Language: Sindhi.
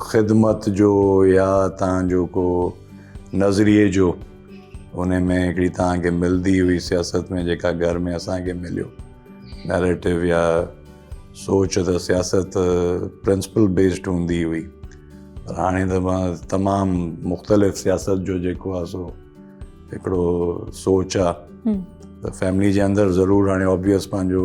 خدمت جو يا تان جو ڪو نظريي جو ان ۾ هڪڙي تان کي ملدي هئي سياست ۾ جيڪا گهر ۾ اسان کي مليو نيريٽو يا سوچ ته سياست پرنسپل بيسڊ هوندي هئي پر هاڻي ته مان تمام مختلف سياست جو جيڪو آهي سو هڪڙو سوچ آهي ته فيملي جي اندر ضرور هاڻي آبويس پنهنجو